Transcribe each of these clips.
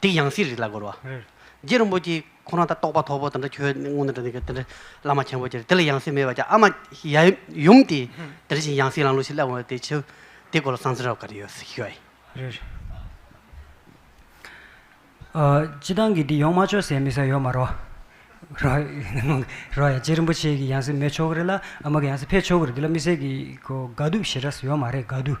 དེ་ཡང་སྲིད་རིགས་ལ་རྒོལ་བ། རྗེ་རིན་པོ་ཆེ་ཁོང་རང་ད་རྟོགས་པ་ཐོག་པོ་དེ་འདྲ་ཁྱོད་དངོས་དེ་འདྲ་ནི་དེ་འདྲ་བླ་མ་ཆེན་པོ་ཅེ་དེ་ལ་ཡང་སྲིད་མེད་པ་ཅེ་ཨ་མ་ཡུམ་དེ་དེ་བཞིན་ཡང་སྲིད་ལང་ལུགས་ཤིག་བསླབ་འོང་དེ་ཆོས་དེ་སྐོར་ལ་གསང་ཚིག་རབ་ག་རེ་ཡོད་ཤིག་ཤོད། སྤྱི་བཏང་གི་འདི་ཡོང་མ་ཆོག་ཟེར་མི་ཟ་ཡོད་མ་རོ། རོ་ཡ་རྗེ་རིན་པོ་ཆེ་གི་ཡང་སྲིད་མེད་ཆོག་གི་རེད་ལ་ཨ་མ་གི་ཡང་སྲིད་ཕེབས་ཆོག་གི་རེད་འདི་ལ་མི་ཟེར་གི་གོ་དགའ་སྡུག་ཞེ་དྲགས་ཡོད་མ་རེད་དགའ་སྡུག།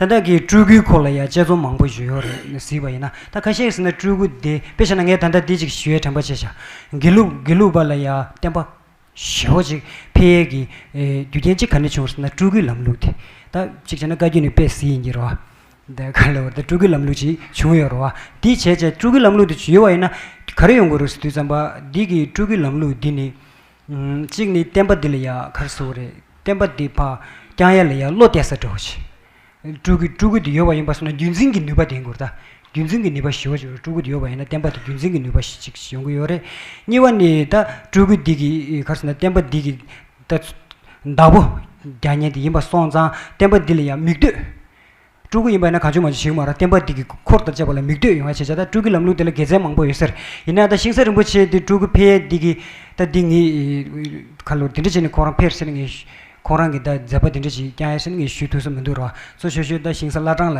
ད་བདག་གིས་སྤྲུལ་སྐུའི་སྐོར་ལ་ཡང་དཔྱད་རྩོམ་མང་པོ་ཞུ་ཡོད་རེད་གཟིགས་པ་ཡིན་ན་ད་ཁ་ཤས་ཟིན་ན་སྤྲུལ་སྐུ་དེ་དཔེ་བྱས་ན་ངས་ད་ལྟ་འདི་ཅིག་ཞུ་བའི་དྲན་པ་ཆེ་ཤག་དགེ་ལུགས་དགེ་ལུགས་པ་ལ་ཡང་བསྟན་པ་ཞེ་བོ་ཅིག་འཕེལ་ཡས་ཀྱི་རྒྱུ་རྐྱེན་གཅིག་ག་ནས་བྱུང་བ་ཟེར་ན་སྤྲུལ་སྐུའི་ལམ་ལུགས་དེ་ད་གཅིག་བྱས་ན་བཀའ་བརྒྱུད་ནས་པས་གཟིགས་ཡིན་གྱི་རོ་དེ་ག་ལ་བོར་ད་སྤྲུལ་སྐུའི་ལམ་ལུགས་ཅིག་བྱུང་ཡོད་རོ་དེ་བྱས་བྱས་སྤྲུལ་སྐུའི་ལམ་ལུགས་དེ་བྱུ་ཡོད་བ་ཡིན་ན་ག་རེ་ཡོང་དགོས་རུ་སི་དུས་ཙམ་པ་འདི་གི་སྤྲུལ་སྐུའི་ལམ་ལུགས་འདི་ནི་གཅིག་ནི་བསྟན་པ་འདི་ལ་ཡ་གར་ཟེར་བ་རེད་བསྟན་པ་འདི་བག་ཀྱང་ཡ་ལ་ཡ་བློ་གཏད་ས་དྲོ་ཞེས། སྤྲུལ་སྐུ་སྤྲུལ་སྐུ་དེ་ཡོད་པ་ཡིན་པ་སོང་ན་རྒྱུད་འཛིན་གྱི་ནུས་པ་ལྡན་དགོས་རེད་ད། རྒྱུད་འཛིན་གྱི་ནུས་པ་ཞི་བ་ཞིག་རེད་སྤྲུལ་སྐུ་དེ་ཡོད་པ་ཡིན་ན་བསྟན་པ་དེ་རྒྱུད་འཛིན་གྱི་ནུས་པ་ཞིག་ཅིག་ཡོང་གི་ཡོད་རེད། གཉིས་པ་ནི་ད་སྤྲུལ་སྐུ་འདི་གི་གར་ཟེར་ན་བསྟན་པ་འདི་གི་ད་བདག་པོ་རྒྱ་ཉན་དེ་ཡིན་པ་སོང་ཙང་བསྟན་པ་འདི་ལ་ཡ་མིག་ལྟོས་སྤྲུལ་སྐུ་ཡིན་པ་ཡིན་ན་གང་བྱུང་མ་བྱུང་ཞིག་མ་རུང་བསྟན་པ་འདི་གི་འཁོར་དང་བཅས་པ་ལ་མིག་ལྟོས་ཡོང་ཡ་བྱེད་བྱ་ད་སྤྲུལ་སྐུའི་ལམ་ལུགས་འདི་ལ་དགེ་མཚན་མང་པོ་ཡོད་ཟེར་ཡིན་ན་ད་ཤིང་བཟའ་རིན་པོ་ཆེ་འདི་སྤྲུལ་སྐུ་ཕལ་ཡས་འདི་གི་ད་འདི་ངས་ཁ་ལོ་འདི་འདྲ་བྱས་ནས་ཁོང་རང་ཕེར་ཟེར་ནས་ངས་ཁོང་རང་གི་ད་མཛད་པ་འདི་འདྲ་ཞིག་བསྐྱང་ཡ་ཟེར་ནས་ངས་ཞུས་ཐུགས་སུ་མི་འདུག་རོ་གཙོ་ཤོས་ཤོས་ད་ཤིང་བཟའ་བླ་བྲང་ལ་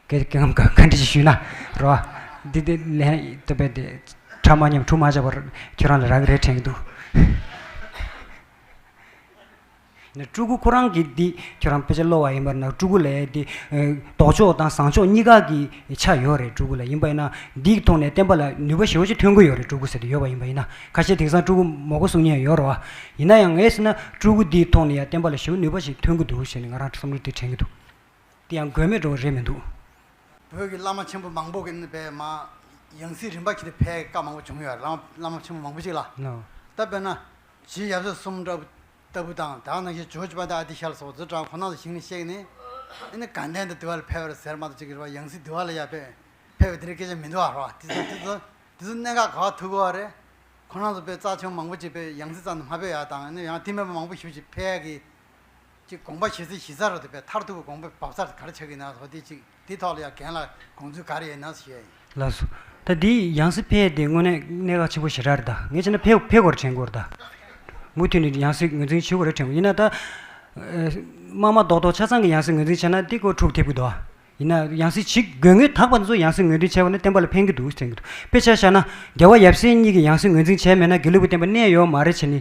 གད་གེ་ངམ་ག་འདྲ་ཞིག་ཞུས་ན་རོ། འདི་འདི་ལན་ད་པས་དེ་ཕྲ་མ་ཉམས་འཁྲུག་མ་བྱས་པར་ཁྱོད་རང་ལ་རག་གི་རེད་དྲན་གི་འདུག། སྤྲུལ་སྐུ་ཁོ་རང་གིས་འདི་ཁྱོད་རང་དཔེ་ཆ་སློ་བ་ཡིན་པར་ན་སྤྲུལ་སྐུ་ལས་འདི་ལྡོག་ཕྱོགས་དང་བཟང་ཕྱོགས་གཉིས་ཀ་གི་ཆ་ཡོད་རེད་སྤྲུལ་སྐུ་ལ་ཡིན་པ་ཡིན་ན་འདིའི་ཐོག་ནས་བསྟན་པ་ལ་ནུས་པ་ཞེ་བོ་ཅིག་ཐོན་གི་ཡོད་རེད་སྤྲུལ་སྐུ་ཟེར་དུ་ཡོད་པ་ཡིན་པ་ཡིན་ན་ཁ་ཤས་དེང་སང་སྤྲུལ་སྐུ་མོག་གོ་གསུང་མཉན་ཡོད་རོ་ཡིན་ན་ཡང་ངས་ཟེར་ན་སྤྲུལ་སྐུ་འདིའི་ཐོག་ནས་ཡང་བསྟན་པ་ལ་ཞེ་བོ་ནུས་པ་ཞིག་ཐོན་གི་འདུག་ཞེས་ནས་ང་རང་བསམ་བློ་དེ་དྲན་གི་འདུག་དེ་ཡང་དགོས་མེད་འགྲོ་བ་རེད་མི་འདུག། བོད་ཀྱི་བླ་མ་ཆེན་པོ་མང་པོ་གི་པའི་མ། ཡང་སྲིད་རིམ་པ་ཁྱེད་ཀྱི་ཕའི་བཀའ་མང་པོ་བྱུང་ཡོད་རེད་བླ་མ་ཆེན་པོ་མང་པོ་ཅིག་ལ། ད་དཔེར་ན། ཅེས་ཡབ་སྲས་གསུམ་ལྟ་བུ་དང་དག་སྣང་ཞེས་བྱོལ་བྱེད་པ་འདི་ཨ་ཏི་ཤལ་སོགས་རྫུ་འཕྲང་ཁོ་ན་ལ་ཞིང་ནས་གཤེགས་ནས། ནི་དགའ་ལྡན་དུ་བདེ་བ་ལ་ཕེབས་པར་ཟེར་མ་ཏོག་གཅིག་གི་རེ་བ་ཡང་སྲིད་བདེ་བ་ལ་ཡར་ཕེབས། ཕེབས་པས་དེ་རིང་སྐད་ཆ་མི་འདུ་བར་བ། དེ་ཚོ་དེ་ཚོ་གནད་འགག་ག་བ་ཐུག་གོ་བ་རེད། ཁོ་རང་ཚོ་པས་རྩ་ཆེན་པོ་མང་པོ་བྱེད་པས་ཡང་སྲིད་རྩ་ནས་མ་ཕེབས་ཡག་དང་ནི་ཡང་སྟི་མེད་པ་མང་པོ་ཞུ་ཅིག་ཕལ་གྱིས། ཅིག་དགོངས་པ་བཞེས་ཚེ་བཞེས་ཚར་རོ་དེ་པས་མཐར་ཐུག་གི་དགོངས་པས་བབས་ཚར་ག་རེ་ཆགས་ཀྱི་ན་ཟོ་དེ་གཅིག། དེའི་ཐོག་ལ་ཡང་གན་ལ་གོང་ཚུལ་ག་རེ་ཡིན་ནམ་ཞེས། ལགས་སོ། ད་འདི་ཡང་སྲིད་ཕེ་དེ་དངོས་གནས་གནད་འགག་ཆེན་པོ་ཞེ་དྲག་རེད་ད། ངས་བྱས་ན་ཕེ་ཕེ་གོ་རེ་དྲན་དགོས་རེད་ད། མུ་མཐུད་ནས་ཡང་སྲིད་ངོས་འཛིན་བྱེད་དགོས་རེ་དྲན་དགོས་ཡིན་ན་ད། དམག་མ་རྡོག་རྡོག་ཆ་ཚང་གི་ཡང་སྲིད་ངོས་འཛིན་བྱས་ན་འདི་ཀོ་དྲུག་ཐེབས་ཀི་འདུག་ཨ། ཡིན་ན་ཡང་སྲིད་ཇི་དགོས་ངས་དག་པ་འདི་ཚོ་ཡང་སྲིད་ངོས་འཛིན་བྱས་པ་ནི་བསྟན་པ་ལ་ཕན་གི་འདུག་དྲན་གི་འདུག་དཔེ་ཆ་བཞག་ན་རྒྱལ་བ་ཡབ་སྲས་གཉིས་ཀྱི་ཡང་སྲིད་ངོས་འཛིན་བྱས་མེད་ན་དགེ་ལུགས་པའི་བསྟན་པ་གནས་ཡོད་མ་རེད་བྱས་ནི།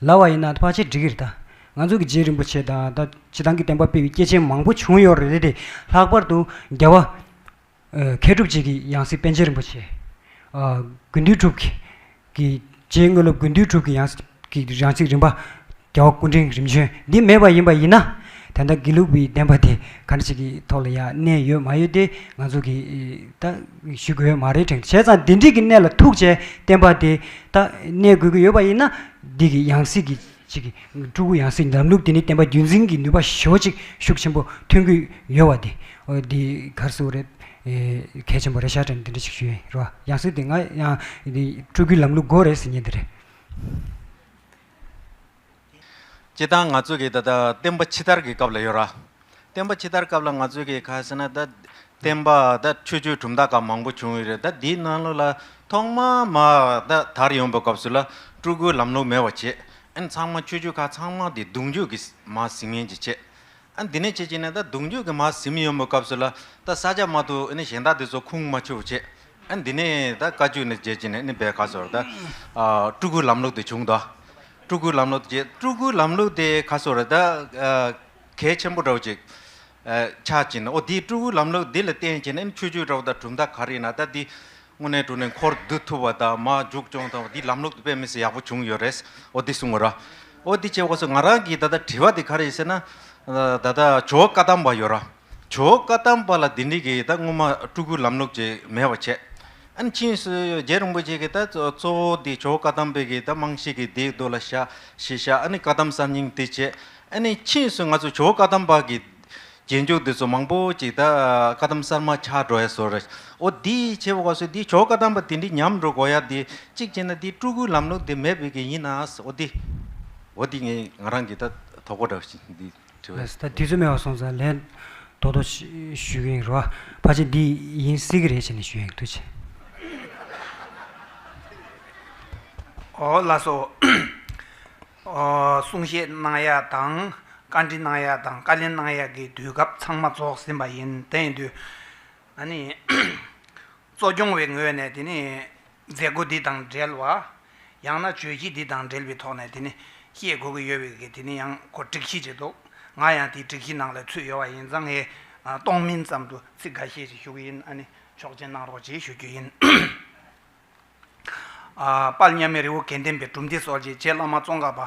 ལ་བ་ཡིན་ན་ཕ་ཆེ་འགྲིག་གི་རེད་ད། ང་ཚོ་གི་རྗེ་རིན་པོ་ཆེ་དང་ད་བྱེད་ཐང་གི་བསྟན་པ་སྤེལ་བའི་སྐྱེས་ཆེན་མང་པོ་བྱུང་ཡོད་རེད་དེ། ལྷག་པར་དུ་རྒྱལ་བ། མཁས་གྲུབ་བཅས་ཀྱི་ཡང་སྲིད་པཎ་ཆེན་རིན་པོ་ཆེ། དགོན་འདུས་གྲུབ་ཀྱི། རྗེའི་དངོས་སློབ་དགོན་འདུས་གྲུབ་ཀྱི་ཡང་སྲིད་རིམ་པ། རྒྱལ་བ་སྐུ་འཕྲེང་རིམ་བྱོན་འདི་མེད་པ་ཡིན་པ་ཡིན་ན། དེ་འདྲ་དགེ་ལུགས་པའི་བསྟན་པ་དེ་ག་འདྲ་ཞིག་གི་ཐོག་ལ་ཡང་གནས་ཡོད་མ་ཡོད་དེ་ང་ཚོ་གིས་ད་ཞུ་དགོས་ཡོད་མ་རེད་དྲན། བྱས་ཙང་འདི་འགྲིག་གི་གནས་ལ་ཐུག་བྱས་བསྟན་པ་དེ། ད་གནས་དགོས་ཀྱི་ཡོད་པ་ཡིན་ན། འདི་གི་ཡང་སྲིད་ཀྱི་ཅིག་གི་སྤྲུལ་སྐུ་ཡང་སྲིད་འདམ་ལུགས་དེ་ནི་བསྟན་པ་རྒྱུན་འཛིན་གྱི་ནུས་པ་ཞོ་ཅིག་ཤུགས་ཆེན་པོ་ཐོན་གྱི་ཡོད་བ་དེ། འདི་གར་སུ་རེད། གལ་ཆེན་པོ་རེད་ཤ་ཀྲ་འདི་འདྲ་ཞིག་ཞུས་རེད་བ། ཡང་སྲིད་དེ་ང་ཡང་སྤྲུལ་སྐུའི་ལམ་ལུགས་དགོས་རེད་ཟེར་ཉེན་དེ་རེད། སྤྱི་བཏང་ང་ཚོ་གི་ད་ལྟ་བསྟན་པ་ཕྱི་དར་གི་སྐབས་ལ་ཡོད། བསྟན་པ་ཕྱི་དར་སྐབས་ལ་ང་ཚོ་གི་ཁ་ཟེར་ན་ད་བསྟན་པ་ད་ཆོས་སྤྱོད་གྲུབ་མཐའ་ཁག་མང་པོ་བྱུང་ཡོད་རེད་ད་འདིའི་ནང་ལོགས་ལ་ཐོག་མ་མ་ད་དར་ཡོང་པའི་སྐབས་སུ་ལ་སྤྲུལ་སྐུའི་ལམ་ལུགས་མེད་པ་བྱས་ཨེ་ན་ཚང་མ་ཆོས་སྤྱོད་ཁག་ཚང་མ་དེ་གདུང་རྒྱུད་ཀྱི་མ་ཟིང་ངན་གྱིས་བྱས། ཨ་འདི་ནས་བྱེད་ཅིག་ན་ད་གདུང་རྒྱུད་ཀྱི་མ་གཟིམ་ཡོད་མོད་སྐབས་སུ་ལ་ད་ས་ཆ་མ་ཐུག་ཨ་གཞན་དག་འདི་ཚོ་ཁུངས་མ་ཆུག་བྱེད་ཨ་འདི་ནས་ད་བཀའ་བཅུ་ནས་བརྗེད་ཅིག་ན་ཨ་བད་ག་སོར་ད་སྤྲུལ་སྐུའི་ལམ་ལུགས་དེ་བྱུང་དོ། སྤྲུལ་སྐུའི་ལམ་ལུགས་དེ་བརྗེད་སྤྲུལ་སྐུའི་ལམ་ལུགས་དེ་ག་སོར་ད་གལ་ཆེན་པོ་འདྲ་བོ་ཅིག་ཆགས་ཅིག་ན་ཨོ་འདིའི་སྤྲུལ་སྐུའི་ལམ་ལུགས་འདི་ལ་བརྟེན་ཅིག་ན་ཨ་ཆོས་བརྒྱུད་འདྲ་བོ་ད་གྲུབ་མཐའ་ག་རེ་ཡིན་ན་ད་འདི་དངོས་གནས་འགྲོ་ནས་འཁོར་བསྡུ་ཐུབ་པ་དང་མ་འཇུག་སྐྱོང་དང་བ་འདི་ལམ་ལུགས་དུ་དཔེ་མི་སྲིད་ཡག་པོ་བྱུང་ཡོད་རེད་འོ་འདི་གསུང་ངོ་ར། འོ་འདི་བྱས་འོ་ཟོ་ང་རང་གིས་ད་ལྟ་དྲི་བ་འདི་ག་རེ་ཡིན་ཟེར་ན། ད་ལྟ་ཇོ་བོ་བཀའ་གདམས་པ་ཡོད་ར། ཇོ་བོ་བཀའ་གདམས་པ་ལ་འདི་འདྲི་གི་ད་སྔོན་མ་སྤྲུལ་སྐུའི་ལམ་ལུགས་ཅིག་མེད་པ་བྱས། ཨན་ཕྱིན་སུ་རྗེ་རིན་པོ་ཆེ་གིས་ད་གཙོ་བོ་འདི་ཇོ་བོ་བཀའ་གདམས་པའི་གིས་ད་རྨང་གཞི་གི་འདི་བསྡུ་ལ་བཞག་ཞེས་བཞག་ཨ་ནི་བཀའ་གདམས་གསར་རྙིང་འདི་བྱས། ཨ་ནི་ཕྱིན་སུ་ང་ཚོ་ཇོ་བོ་བཀའ་གདམས་པ་གི། རྗེས་འཇུག་འདི་ཚོ་མང་པོ་ཅིག་ད་བཀའ་གདམས་གསར་མ་ཆགས་འགྲོ་ཡ་སོ། འོ་འདི་བྱེད་པ་ག་སོ་འདི་ཇོ་བཀའ་གདམས་པ་དེ་འདྲི་ཉམས་འགྲོ་དགོ་ཡ་འདི་གཅིག་བྱེད་ན་འདི་སྤྲུལ་སྐུའི་ལམ་ལུགས་འདི་མེད་པའི་གི་ཡིན་ནའང་འོ་འདི། འོ་འདི་ངས་ང་རང་གི་ད་དོག་པོ་འདྲ་བཞིན་འདི་དྲི་བ། ད་དེ་ཚོ་མེད་བ་སོང་ཙང་ལན་ཏོག་ཏོག་ཞུས་གི་ཡིན་རོ། ཕ་ཆེ་འདི་ཡིན་སྲིད་གི་རེད་བྱས་ནས་ཞུས་ཡིན་འདུག་བྱས། ཨོ་ལ་སོ། གསུང་བཤད་གནང་ཡག་དང་བཀའ་འདྲི་གནང་ཡག་དང་བཀའ་ལན་གནང་ཡག་གི་དུས་སྐབས་ཚང་མ་རྫོགས་ཟིན་པ་ཡིན། དེ་ཡིན་དུས། ད་ནི། གཙོ་སྐྱོང་བའི་ངོས་ནས་དེ་ནི། མཛད་སྒོ་འདི་དང་འབྲེལ་བ། ཡང་ན་བརྗོད་གཞི་འདི་དང་འབྲེལ་བའི་ཐོག་ནས་དེ་ནི། བཤད་དགོས་ཀྱི་ཡོད་པའི་དེ་ནི་ཡང་སྒོ་སྒྲིག་གཞི་བྱས་འདུག་ང་ཡང་དེའི་སྒྲིག་གཞི་ནང་ལ་ཚུད་ཡོད་པ་ཡིན་ཙང་ངས། གཏོང་མིན་ཙམ་དུ་ཚིག་འགའ་ཤས་ཞིག་ཞུ་གི་ཡིན། ཨ་ནི། ཆོག་མཆན་གནང་རོགས་ཞེས་ཞུ་རྒྱུ་ཡིན། པར་མཉམ་མེད་རི་བོ་དགེ་ལྡན་པའི་གྲུབ་མཐའི་སོགས་རྗེ་བླ་མ་ཙོང་ཁ་པ་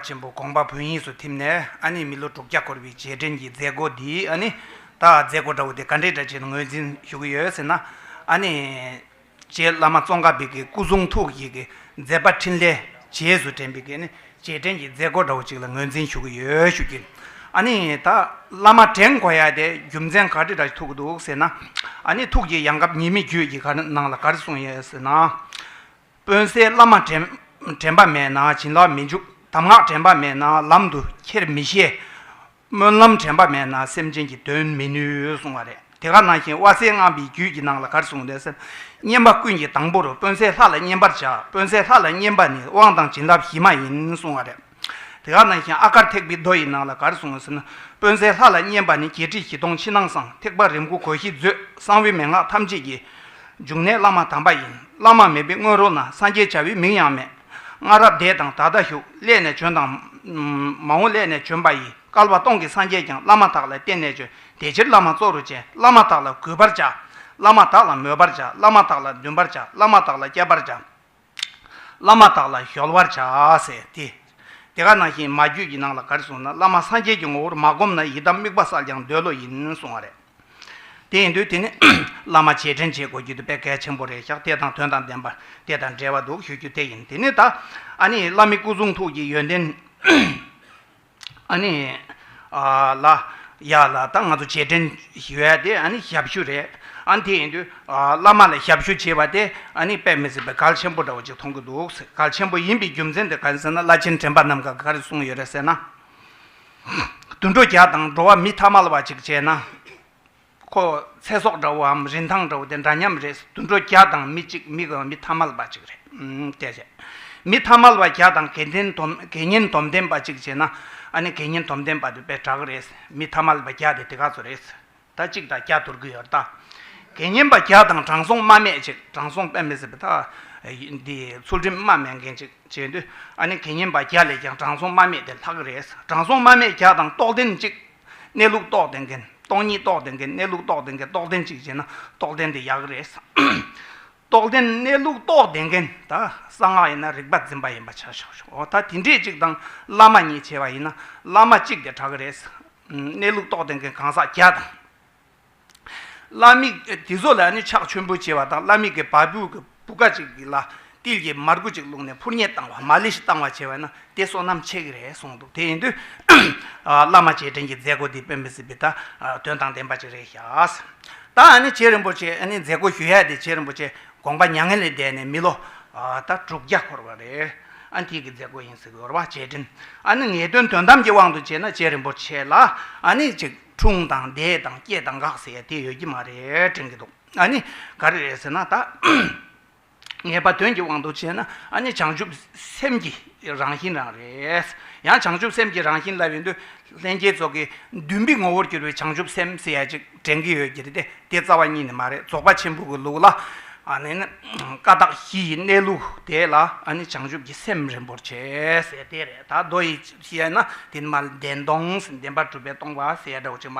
ཆེན་པོ་དགོངས་པ་བོན་དབྱིངས་སུ་ཐིམ་ནས་ཨ་ནི་མི་ལོ་དྲུག་བརྒྱ་འཁོར་བའི་རྗེས་དྲན་གྱི་མཛད་སྒོ་འདི་ཨ་ནི་ད་མཛད་སྒོ་འདྲ་བོ་དེ་ག་འདྲའི་གྲ་ཆེན་ངོས་འཛིན་ཞུ་གི་ཡོད་ཟེར་ན་ཨ་ནི་རྗེ་བླ་མ་ཙོང་ཁ་པའི་སྐུ་གསུང་ཐུགས་ཀྱི་མཛད་པ་ཕྲིན་ལས་རྗེས་སུ་དྲན་པའི་རྗེས་དྲན་གྱི་མཛད་སྒོ་འདྲ་བོ་ཅིག་ལ་ངོས་འཛིན་ཞུ་གི་ཡོད་ཞུ་རྒྱུ། ཨ་ནི་ད་བླ་མ་དྲན་གོ་ཡ་དེ་རྒྱུ་མཚན་ག་དྲི་འདྲ་ཞིག་ཐུག་གི་འདུག་ཟེར་ན། ཨ་ནི་ཐུགས་ཀྱི་ཡང་སྐབས་ཉེས་མེད་རྒྱུད་ཀྱི་གར་ནང་ལ་གར་གསུངས་ཡོད་ཟེར་ན། དཔོན་སའི་བླ་མ་དྲན་པ་མེད་ན་བྱིན་རླབས་མི་འཇུག་གདམས་ངག་དྲན་པ་མེད་ན་ལམ་དུ་ཁྱེར་མི་ཤེས། སྨོན་ལམ་དྲན་པ་མེད་ན་སེམས་ཅན་གྱི་དོན་མི་ནུས་གསུང་བ་རེད་དེ་ག་ནང་བཞིན་དབལ་སེང་རྔམ་པའི་རྒྱུད་ཀྱི་ནང་ལ་གར་གསུངས་ལས་སེམས་བསྙེན་པ་ཀུན་གྱི་དང་པོ་རུ་དཔོན་གསས་ལྷ་ལ་བསྙེན་པར་བྱ་དཔོན་གསས་ལྷ་ལ་བསྙེན་པ་ནི་དབང་དང་བྱིན་རླབས་གཞི་མ་ཡིན་གསུང་བ་རེད་དེ་ག་ནང་བཞིན་ཨ་གར་ཐེག་པའི་མདོ་ཡི་ནང་ལ་གར་གསུངས་ཟིན་དཔོན་གསས་ལྷ་ལ་བསྙེན་པ་ནི་བརྒྱད་ཁྲི་བཞི་སྟོང་ཕྱི་ནང་གསང་ཐེག་པ་རིམ་དགུ་གོ་བཞི་མཛོད་གསང་བའི་མན་ངག་ཐམས་ཅད་ཀྱི་འབྱུང་གནས་བླ་མ་དམ་པ་ཡིན་བླ་མ་མེད་པའི་སྔོན་རོལ་ན་སངས་རྒྱས་བྱ་བའི་མིང་ཡང་མེད། སྔ་རབས་འདས་དང་ད་ལྟ་བཞུགས་སླད་ནས་བྱོན་དང། མ་འོངས་སླད་ནས་བྱོན་པ་ཡི། བསྐལ་པ་སྟོང་གི་སངས་རྒྱས་ཀྱང་བླ་མ་དག་ལ་བསྟེན་ནས་བྱོན། དེ་ཕྱིར་བླ་མ་གཙོ་རུ་བྱས་བླ་མ་དག་ལ་གུས་པར་བྱ། བླ་མ་དག་ལ་མོས་པར་བྱ་བླ་མ་དག་ལ་འདུན་པར་བྱ་བླ་མ་དག་ལ་བསྐྱལ་པར་བྱ། བླ་མ་དག་ལ་གཞོལ་བར་བྱ། དེ་ཀ་ནང་བཞིན་མ་རྒྱུད་ཀྱི་ནང་ལ་གར་སོང་ན་བླ་མ་སངས་རྒྱས་ཀྱི་ངོ་བོར་མ་བསྒོམས་ན་ཡི་དམ་དམིགས་པ་བསགས་ཀྱང་འདོད་བློ་ཡིན་གསུང་བ་རེད། དེ་ཡིན་དུས་དེ་ནི་བླ་མ་རྗེས་དྲན་བྱེད་དགོས་རྒྱུ་དེ་དཔེ་གལ་ཆེན་པོ་རེད་ཤག་དེ་དང་དོན་དང་ལྡན་པ་དེ་དང་འབྲེལ་བ་འདུག་ཞུ་རྒྱུ་དེ་ཡིན་དེ་ནི་ད་ཨ་ནི་བླ་མི་སྐུ་གསུང་ཐུགས་ཀྱི་ཡོན་ཏན་ཨ་ནི་ལ་ཡ་ལ་ད་ང་ཚོ་རྗེས་དྲན་ཞུ་ཡ་དེ་ཨ་ནི་ཞབས་ཞུ་རེད་ཨ་ནི་དེ་ཡིན་དུས་བླ་མ་ལ་ཞབས་ཞུ་བྱེད་པ་དེ་ཨ་ནི་དཔེ་མི་སྲིད་པའི་གལ་ཆེན་པོ་འདྲ་བོ་ཅིག་མཐོང་གི་འདུག་གལ་ཆེན་པོ་ཡིན་པའི་རྒྱུ་མཚན་དེ་ག་རེ་ཟེར་ན་བླ་ཆེན་དྲན་པ་རྣམས་ག་ག་རེ་གསུངས་ཡོད་རེད་ཟེར་ན། དུད་འགྲོ་བརྒྱ་དང་འགྲོ་བ་མི་ཐ་མལ་བ་ཅིག་བྱས་ན། ཁོ། ཚེ་སྲོག་འདྲ་བོའམ་རིན་ཐང་འདྲ་བོ་དེ་འདྲ་མཉམ་རེད། དུད་འགྲོ་བརྒྱ་དང་མི་གཅིག་མི་དགུ་མི་ཐ་མལ་བ་ཅིག་རེད། གལ་ཆེ། མི་ཐ་མལ་བ་བརྒྱ་དང་དགེ་ལྡན་དོམ་དགེ་བསྙེན་དོམ་ལྡན་པ་ཅིག་བྱས་ན། ཨ་ནི་དགེ་བསྙེན་དོམ་ལྡན་པ་དེ་པའི་བྲག་རེད། མི་ཐ་མལ་བ་བརྒྱ་དེ་དེ་ག་ཚོད་རེད། ཟླ་གཅིག་དང་བརྒྱ་དུར་གི་ཡོར་ལྟ། དགེ་བསྙེན་པ་བརྒྱ་དང་དྲང་སྲོང་རྨ་མེད་ཅིག་དྲང་སྲོང་དཔལ་མི་ཟད་པ་དང། ཚུལ་ཁྲིམས་རྨ་མེད་མཁན་ཅིག་བྱེད་འདོད་ཨ་ནི་དགེ་བསྙེན་པ་བརྒྱ་ལས་ཀྱང་དྲང་སྲོང་རྨ་མེད་དེ་ལྷག་གི་རེད་དྲང་སྲོང་རྨ་མེད་བརྒྱ་དང་རྟོགས་ལྡན་གཅིག། གནས་ལུགས་རྟོགས་ལྡན་མཁན་སྟོང་ཉིད་རྟོགས་ལྡན་མཁན་གནས་ལུགས་རྟོགས་ལྡན་མཁན་རྟོགས་ལྡན་གཅིག་བྱེད་ན་རྟོགས་ལྡན་དེ་ཡག་གི་རེད། རྟོགས་ལྡན་གནས་ལུགས་རྟོགས་ལྡན་མཁན་ད་གསང་སྔགས་ཡིན་ན་རིག་པ་འཛིན་པ་ཡིན་པ་བྱ་ཆོག་ད་དེ་འདྲས་གཅིག་དང་བླ་མ་གཉིས་བྱེད་པ་ཡིན་ན་བླ་མ་གཅིག་དེ་དྲག་གི་རེད། གནས་ལུགས་རྟོགས་ལྡན་གྱི་གང་ཟག་བརྒྱ་དང། བླ་མིག་དེ་ཚོ་ལ་ནི་ཕྱག་མཆོད་འབུལ་བྱེད་པ་དང་བླ་མིག་གི་བ་སྤུའི་གི་བུ་ག་ཅིག་ལ་ཏིལ་གྱི་མར་ཁུ་ཅིག་བླུགས་ནས་ཕུར་མཉེ་བཏང་བ་མ་ལི་ཤི་བཏང་བ་བྱས་པས་ན་དེ་བསོད་ནམས་ཆེ་གི་རེད་གསུངས་འདུག་དེ་ཡིན་དུས་བླ་མ་རྗེས་དྲན་གྱི་མཛད་སྒོ་འདི་དཔོན་མི་སྲིད་པའི་ད་དོན་དང་ལྡན་པ་ཅིག་རེད་ཤག། ད་ཨ་ནི་རྗེ་རིན་པོ་ཆེ་ཨ་ནི་མཛད་སྒོ་ཞུ་ཡ་དེ་རྗེ་རིན་པོ་ཆེ་དགོངས་པ་མྱ་ངན་ལས་འདས་ནས་མི་ལོ་ད་དྲུག་བརྒྱ་འཁོར་བ་རེད། ཨ་འཐས་ཀྱི་མཛད་སྒོ་ཡིན་ཟེར་བའི་རོ་བ་ཆེ་དྲིན་ཨ་ནི་ངེས་དོན་དོན་དམ་གྱི་དབང་དུ་བྱས་ན་ཆེས་རིན་པོ་ཆེ་ལ་ཨ་ནི་ཅིག་འཁྲུངས་དང་འདས་དང་སྐྱེས་དང་འགག་ཟེར་ཡ་དེ་ཡོད་ཀྱི་མ་རེད་དྲན་གྱི་འདུག་ཨ་ནི་ག་རེ་རེད་ཟེར་ན་ད་ངེས་པ་དོན་གྱི་དབང་དུ་བྱས་ན་ཨ་ནི་བྱང་ཆུབ་སེམས་ཀྱི་རང་བཞིན་རང་རེད། ཡང་བྱང་ཆུབ་སེམས་ཀྱི་རང་བཞིན་ལབ་ཡོང་དུས་ལྷན་སྐྱེས་ཚོགས་ཀྱི་མདུན་བི་ངོ་བོར་གྱུར་བའི་བྱང་ཆུབ་སེམས་ཟེར་ཡ་ཅིག་དྲན་གྱི་ཡོད་ཀྱི་རེད་དེ། དེ་རྩ་བ་ཉིད་ནས་མ་རེད་རྫོགས་པ་ཆེན་པོ་གི་ལུགས་ལ། ཀ་དག་བཞི་ཡི་གནས་ལུགས་དེ་ལ་བྱང་ཆུབ་ཀྱི་སེམས་རིན་པོར་ཆེ་ཟེར་དེ་རེད་ད། མདོ་ཡི་ཞལ་ན་དེ་ནི་མ་བདེན་སྟོང་ཟིན་བདེན་པར་གྲུབ་པའི་སྟོང་པ་ཟེར་ཡ་འདྲ་བོ་ཅིག་མ་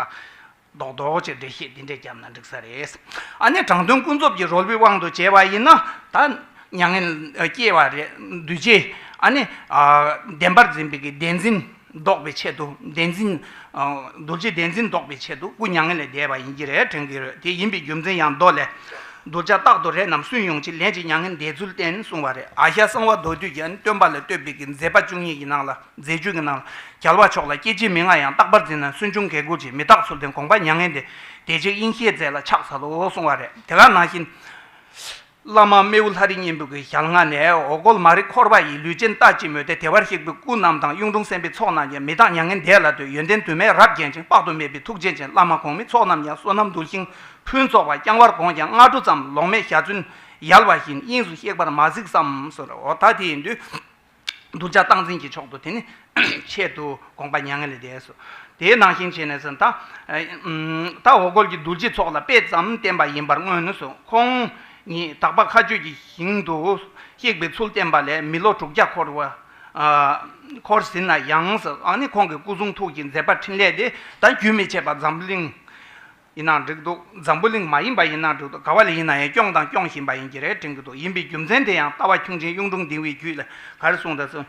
གཏོགས་རྡོག་ཅིག་འགྲེལ་བཤད་འདི་འདྲས་བརྒྱབ་ན་འགྲིག་ས་རེད། དྲང་དོན་ཀུན་རྫོབ་ཀྱི་རོལ་པའི་དབང་དུ་བྱས་པ་ཡིན་ན་ད། མྱ་ངན་སྐྱེ་བ་རེད་འདུས་ཆེ། བདེན་པར་འཛིན་པའི་བདེན་འཛིན། ཟློག་པའི་ཆེད་དུ་བདེན་འཛིན། རྡོ་རྗེ་བདེན་འཛིན་ཟློག་པའི་ཆེད་དུ་སྐུ་མྱ་ངན་ལས་འདས་པ་ཡིན་གྱི་རེད་དྲན་གྱི་རེད་དེ་ཡིན་པའི་རྒྱུ་མཚན་ཡང་མདོ་ལས། གདུལ་བྱ་རྟག་ཏུ་རེ་རྣམས་སུན་དབྱུང་ཅིང་ལན་ཅིག་མྱ་ངན་འདས་ཚུལ་བསྟན་གསུང་བ་རེད་ཨ་ཤ་གསང་བ་མདོ་དུས་ཀྱི་སྟོན་པ་ལ་བསྟོད་པའི་གི་མཛད་པ་བཅུ་གཉིས་ཀྱི་ནང་ལ་མཛད་བཅུ་གྱི་ནང་ལ་རྒྱལ་བ་མཆོག་ལ་སྐྱེ་འཆི་མི་མངའ་ཡང་རྟག་པར་འཛིན་ན་སུན་ཕྱུང་གལ་འགུགས་ཀྱི་མི་རྟག་ཚུལ་བསྟན་དགོངས་པ་མྱ་ངན་འདས་རྗེས་དབྱིངས་ཤེས་མཛད་ལ་ཕྱག་འཚལ་ལོ་གསུང་བ་རེད་དེ་ག་ནང་བཞིན། བླ་མ་རྨེའུ་ལྷ་རི་གཉན་པོ་གི་ཞལ་སྔ་ནས་འོ་སྐོལ་མ་རི་འཁོར་བ་ཡི་ལུས་ཅན་ལྟ་ཅི་སྨོས་ཏེ་དེ་བར་གཤེགས་པའི་སྐུ་རྣམས་དང་གཡུང་དྲུང་སེམས་དཔའི་ཚོགས་རྣམས་ཀྱང་མི་གདངས་མྱ་ངན་འདས་ལ་ལྟོས་ཡོན་ཏན་དུ་མས་རབ་བརྒྱན་ཅིང་དཔག་ཏུ་མེད་པའི་ཐུགས་རྗེ་ཅན་བླ་མ་གོང་མའི་ཚོགས་རྣམས་ཀྱང་བསོད་ནམས་འདུ་ཞིང་ཕུན་ཚོགས་པ་བསྐྱང་བར་དགོངས་ཀྱང་སྔ་དྲོ་ཙམ་ལོག་སྨྲའི་ཞལ་ཚོན་ཡལ་བ་བཞིན་དབྱིངས་སུ་གཤེགས་པར་མ་གཟིགས་སམ། ད་དེའི་དུས། གདུལ་བྱ་སྟངས་འཛིན་གྱི་མཆོག་ཏུ་དེ་ནི། ཆེད་དུ་དགོངས་པ་མྱ་ངན་ལས་འདས་སོ། དེའི་ནང་བཞིན་བྱས་ནས་སུ། ད་ལྟ་འོ་སྐོལ་གྱི་རྡུལ་སྤྱི་ཚོགས་ལ་དཔེ་ཙམ་བསྟན་པ་ཡིན་པར་མངོན་ནུས་སོ། ཁོང་ཉིད་དག་པ་མཁའ་སྤྱོད་ཀྱི་ཞིང་དུ་གཤེགས་པའི་ཚུལ་བསྟན་པ་ལས་མི་ལོ་དྲུག་བརྒྱ་འཁོར་བར། འཁོར་ཟིན་ན་ཡང། ཁོང་གི་སྐུ་གསུང་ཐུགས་ཀྱི་མཛད་པ་ཕྲིན་ལས་དེ་ད་རྒྱུན་མི་ཆད་པར་འཛམ་གླིང། ཡིན་ནའང་འགྲིག་འདུག་འཛམ་བུ་གླིང་མ་ཡིན་པ་ཡིན་ནའང་འགྲིག་འདུག་ག་བ་ལ་ཡིན་ན་ཡང་སྐྱོང་དང་སྐྱོང་བཞིན་པ་ཡིན་གྱི་རེད་དྲན་གྱི་འདུག་ཡིན་པའི་རྒྱུ་མཚན་དེ་ཡང་ལྟ་བ་ཁྱུང་ཆེན་གཡུང་དྲུང་ལྡིང་བའི་རྒྱུད་ལས་ག་རེ་གསུངས་དང་གསུངས།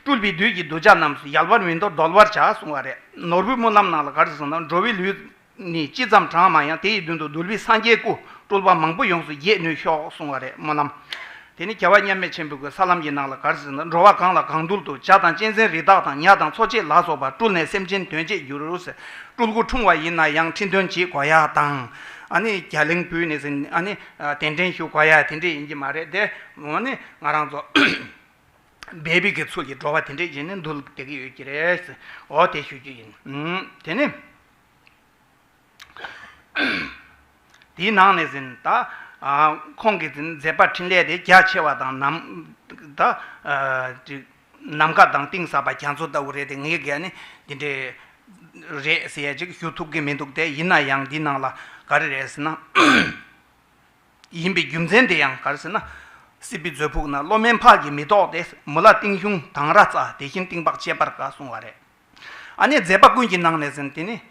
སྤྲུལ་པའི་བདུད་ཀྱིས་གདུལ་བྱ་རྣམས་སུ་ཡལ་བར་མི་འདོར་བརྡོལ་བར་བྱ་གསུངས་བ་རེད། ནོར་བུའི་སྨོན་ལམ་ནང་ལ་ག་རེ་གསུངས་དང་འགྲོ་བའི་ལུས་ནི་ཅི་ཙམ་གྲང་མང་ཡང་དེ་ཡི་མདུན་དུ་གདུལ་བའི་སངས་རྒྱས་སྐུ་སྤྲུལ་པ་མང་པོ་ཡོངས་སུ་རྒྱས་ནུས་ཤོག་གསུངས་བ་རེད་སྨོན་ལམ་དེ་ནི་རྒྱལ་བ་མཉམ་མེད་ཆེན་པོའི་གོས་ས་ལམ་གྱི་ནགས་ལ་གར་ཟིན་ལ་འགྲོ་བ་གང་ལ་གང་འདུལ་དུ་བྱ་དང་གཅན་གཟན་རི་དྭགས་དང་ཉག་དང་འཚོ་བྱེད་ལ་སོགས་པ་སྤྲུལ་ནས་སེམས་ཅན་དོན་བྱེད་འགྱུར། སྤྲུལ་སྐུ་འཁྲུངས་བ་ཡིན་ན་ཡང་ཁྲི་འདོན་བགྱིད་དགོས་ཡ་དང། རྒྱ་གླིང་བུད་ནས་ཟིན་གདན་འདྲེན་ཞུ་དགོས་ཡ་དེ་འདྲས་ཡིན་གྱི་མ་རེད་དེ། ང་རང་ཚོ་བལ་བིག་གི་ཚུལ་གྱིས་འགྲོ་བ་དེ་འདྲས་བྱས་ནས་འདུལ་བསྡད་ཀྱི་ཡོད་ཀྱི་རེད། འོ་དེ་ཞུ་རྒྱུ་ཡིན། དེ་ནི། དེའི་ནང་ནས་ཟིན། ཁོང་གི་མཛད་པ་འཕྲིན་ལས་དེ་རྒྱ་ཆེ་བ་དང། ནམ་མཁའ་དང་གཏིང་ཟབ་པ་རྒྱ་མཚོ་ལྟ་བུ་རེད་དེ་ངའི་སྒེར་ནི་འདི་འདྲའི་རེད་ཟེར་ཅིག་ཞུ་ཐུབ་ཀྱི་མི་འདུག་སྟེ་ཡིན་ན་ཡང་འདི་ནང་ལ་ག་རེ་རེད་ཟེར་ན། ཡིན་པའི་རྒྱུ་མཚན་དེ་ཡང་ག་རེ་ཟེར་ན། སྲིད་པའི་མཛོད་ཕུགས་ན་བློ་དམན་ཕག་གིས་མི་ལྡོག་སྟེ་མུ་ལ་གཏིང་གཞུང་དང་ར་རྩ་དེ་བཞིན་གཏིང་དཔག་ཁྱད་པར་འགའ་གསུངས་བ་རེད། ཨ་ནི་མཛད་པ་ཀུན་གྱི་ནང་ནས་ཟིན། དེ་ནི།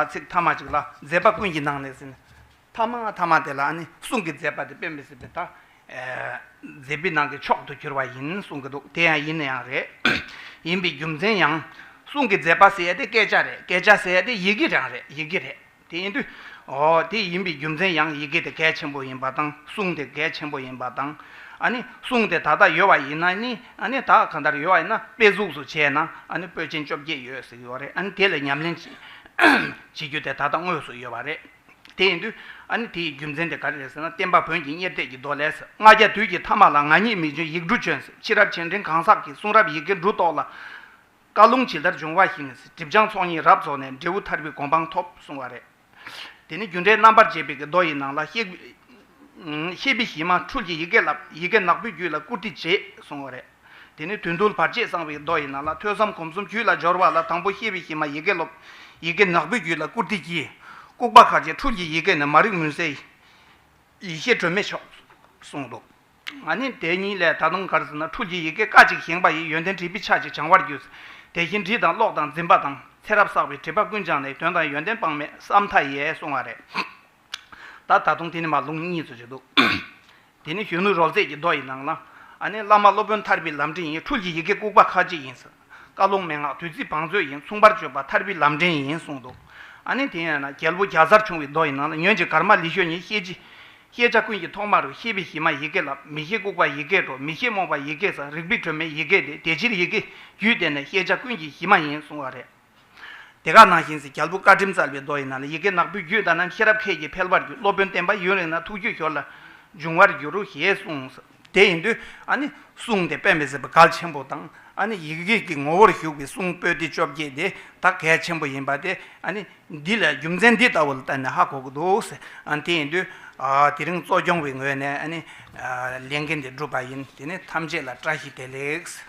ཚིག་ཐ་མ་གཅིག་ལ། མཛད་པ་ཀུན་གྱི་ནང་ནས་ཟིན། ཐ་མ་ཐ་མ་དེ་ལ་ཨ་ནི་གསུང་གི་མཛད་པ་དེ་དཔེ་མི་སྲིད་པས། མཛད་པའི་ནང་གི་མཆོག་ཏུ་གྱུར་པ་ཡིན་གསུང་གི་འདུག་དེ་ཡང་ཡིན་ནི་ཡང་རེད། ཡིན་པའི་རྒྱུ་མཚན་ཡང། གསུང་གི་མཛད་པ་ཟེར་ཡས་དེ་སྐད་ཆ་རེད་སྐད་ཆ་ཟེར་ཡས་དེ་ཡི་གེ་རང་རེད་ཡི་གེ་རེད། དེ་ཡིན་དུས། འོ་དེ་ཡིན་པའི་རྒྱུ་མཚན་ཡང་ཡི་གེ་དེ་གལ་ཆེན་པོ་ཡིན་པ་དང་གསུང་དེ་གལ་ཆེན་པོ་ཡིན་པ་དང། ཨཱ་ནི་གསུང་དེ་ད་ལྟ་ཡོད་པ་ཡིན་ན་ནི་ཨཱ་ནི་ད་གང་ལྟར་ཡོད་པ་ཡིན་ན་དཔེ་གཟུགས་སུ་བྱས་ན་ཨཱ་ནི་པོད་ཆེན་བཅོ་བརྒྱད་ཡོད་ཟེར་གྱི་ཡོད་རེད་ཨཱ་ནི་དེ་ལ་ཉམས་ལེན་བྱེད་རྒྱུ་དེ་ད་ལྟ་དངོས་སུ་ཡོད་པ་རེད། དེ་ཡིན་དུས། ཨཱ་ནི་དེ་ཡི་རྒྱུ་མཚན་དེ་ག་རེ་རེད་ཟེར་ན་བསྟན་པ་བོན་གྱི་གཉེར་གཏད་ཀྱི་མདོ་ལས། ལྔ་བརྒྱ་དུས་ཀྱི་ཐ་མ་ལ་ང་ཉིད་མི་འབྱོན་ཡིག་འབྲུ་བྱོན། ཕྱི་རབས་ཆེ་འབྲིང་གང་ཟག་གི་གསུང་རབ་ཡི་གེ་འབྲུ་ཏོག་ལ། བཀའ་ལུང་ཇི་ལྟར་འབྱུང་བ་བཞིན་སྒྲིབ་སྦྱངས་ཚོགས་གཉིས་རབ་རྫོགས་ནས་འབྲས་བུ་ཐར་པའི་གོ་འཕང་ཐོབ་གསུང་བ་རེད། དེ་ནས་རྒྱུ་འབྲས་རྣམ་པར་འབྱེད་པའི་གི་མདོ་ཡི་ནང་ལ། གཤེགས་པའི་གཞི་མ་འཕྲུལ་གྱི་ཡི་གེ་བསླབ། ཡི་གེ་ནག་པོའི་རྒྱུད་ལ་བཀུར་སྟི་བྱེད་གསུང་བ་རེད། དེ་ནས་དོན་བསྡུ་བར་ཆད་གསང་བའི་གི་མདོ་ཡི་ནང་ལ་ཐོས་བསམ་སྒོམ་གསུམ་རྒྱུད་ལ་སྦྱོར་བ་ལ་དང་པོ་གཤེགས་པའི་གཞི་མ་ཡི་གེ་སློབ། ཡི་གེ་ནག་པོའི་རྒྱུད་ལ་བཀུར་སྟི་གྱིས། ལྐུགས་པ་ཁ་ཅན་འཕྲུལ་གྱི་ཡི་གེ་ནི་མ་རིག་མུན་སེལ། ཡེ་ཤེས་སྒྲོན་མེ་མཆོག་གསུང་འདུག། ང་ནི་དེ་གཉིས་ལས་ད་དུང་གར་ཟེར་ན་ཕྲུག་གི་ཡི་གེ་ཀ་ཅིག་བཞེངས་པ་ཡི་ཡོན་ཏན་བྲིས་པའི་ཆ་ཅིག་བྱང་བར་གྱུར། དེ་བཞིན་བྲིས་དང་ཀློག་དང་འཛིན་པ་དང་ཚེ་རབས་བསགས་པའི་བྲིས་པ་ཀུན་སྦྱངས་ནས་དོན་དང་ཡོན་ཏན་དཔག་མེད་བསམ་མཐའ་ཡས་སོང་བ་རེད། ད་ད་དུང་དེ་ནི་མ་ལུང་གཉིས་སུ་བྱེད་དོ། དེ་ནི་གཞོན་ནུ་རོལ་རྩེད་ཀྱི་མདོ་ཡི་ནང་ལ། ཨ་ནི་བླ་མ་སློབ་དཔོན་ཐར་པའི་ལམ་འབྲས་ཡིན་ཕྲུག་གི་ཡི་གེ་ལྐུགས་པ་ཁ་ཅིག་ཡིན་ཟེར། བཀའ་སློང་མན་ངག་དུས་ཚིགས་བང་མཛོད་ཡིན་མཚུངས་པར་བརྗོད་པ་ཐར་པའི་ལམ་འདྲེན་ཡིན་གསུངས་འདུག་ཨ་ནི་དེ་ཡིན་ན་རྒྱལ་པོ་རྒྱ་བཟར་བྱུང་བའི་མདོ་ཡི་ནང་ལ་ཉོན་ཅིག་གར་མ་ལི་ཤོ་ཉིད་ཤེས་ཀྱི། ཤེས་བྱ་ཀུན་གྱི་ཐོག་མ་རུ་ཤེས་པའི་གཞི་མ་ཡི་གེ་ལབ་མི་ཤེས་ལྐུགས་པ་ཡི་གེ་འགྲོ་མི་ཤེས་རྨོངས་པ་ཡི་གེ་ཟ་རིག་པའི་དྲོད་མེད་ཡི་གེ་དེ་དེ་ཕྱིར་ཡི་གེ་རྒྱུད་དེ་ནི་ཤེས་བྱ་ཀུན་གྱི་གཞི་མ་ཡིན་གསུངས་བ་རེད། དེ་ག་ནང་བཞིན་ཟེར་རྒྱལ་པོ་བཀའ་ཁྲིམས་སྩལ་བའི་མདོ་ཡི་ནང་ལ་ཡི་གེ་ནག་པོའི་རྒྱུད་ད་ནམ་ཤེས་རབ་ཁད་ཀྱིས་འཕེལ་བར་འགྱུར་སློབ་དཔོན་བསྟན་པ་ཡུན་རིང་ན་ཐུགས་རྒྱུད་ཞོར་ལ་འབྱུང་བར་འགྱུར་རོ་ཞེས་གསུངས། དེ་ཡིན་དུས་ཨ་ནི་གསུང་དེ་དཔེ་མི་སྲིད་པ་གལ་ཆེན་པོ་དང་ཨ་ནི་ཡིག་རིགས་ཀྱི་ངོ་བོར་ཞུགས་པའི་གསུང་སྤོས་ཏི་བཅོ་བརྒྱད་དེ་དག་གལ་ཆེན་པོ་ཡིན་པ་དེ་ཨ་ནི་འདི་ལས་རྒྱུ་མཚན་འདི་ལྟ་བུ་ལ་བརྟེན་ནས་ཧ་གོ་གི་འདུག་ཟེར་དེ་ཡིན་དུས་དེ་རིང་གཙོ་སྐྱོང་བའི་ངོས་ནས་ཨ་ནི་ལས་འགན་འདི་བསྒྲུབས་པ་ཡིན་དེ་ནི་ཐམས་ཅད་ལ་བཀྲ་ཤིས་བདེ་ལེགས།